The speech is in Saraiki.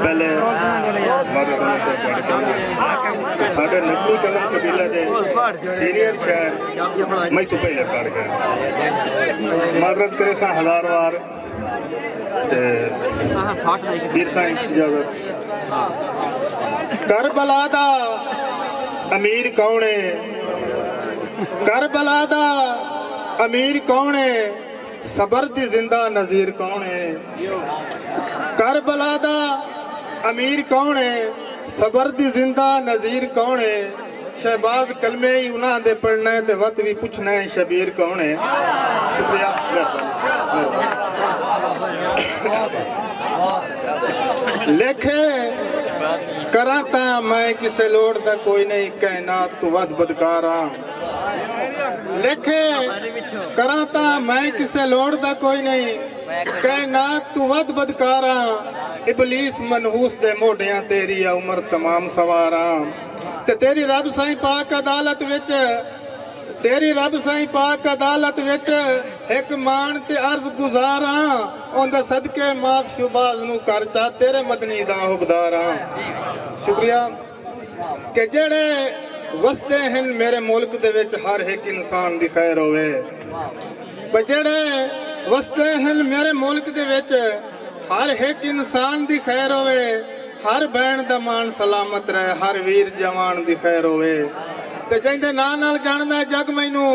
پہلے ساڈے نکلو چلن قبیلے دے سینئر شہر میں تو پہلے پڑھ گئے معذرت کرے سا ہزار وار پھر سا اجازت کربلا دا امیر کون ہے کربلا دا امیر کون ہے صبر دی زندہ نذیر کون ہے کربلا دا امیر کون ہے صبر دی زندہ نذیر کون ہے شہباز کلمے ای انہاں دے پڑھنا ہے تے وت وی پچھنا ہے شبیر کون ہے شکریہ لکھے کراں تاں میں کسے لوڑ دا کوئی نہیں کائنات تو ودھ بدکاراں لکھے کراں تاں میں کسے لوڑ دا کوئی نئیں کائنات توں ودھ بدکاراں ابلیس منحوس دے موڈیاں تیری آ عمر تمام سواراں تے تیری رب سائیں پاک عدالت وچ تیری رب سائیں پاک عدالت وچ ہک مانڑ تے عرض گزاراں اوندے صدقے معاف شوباز نوں کر چا تیرے مدنی دا حبداراں شکریہ کہ جیڑھے وسدے ہن میرے ملک دے وچ ہر ہک انسان دی خیر ہووے بھئی جیڑھے وسدے ہن میرے ملک دے وچ ہر ہک انسان دی خیر ہووے ہر بھین دا مان سلامت رہے ہر ویر جوان دی خیر ہووے تے جیندے ناں نال جاندا ہے جگ مینوں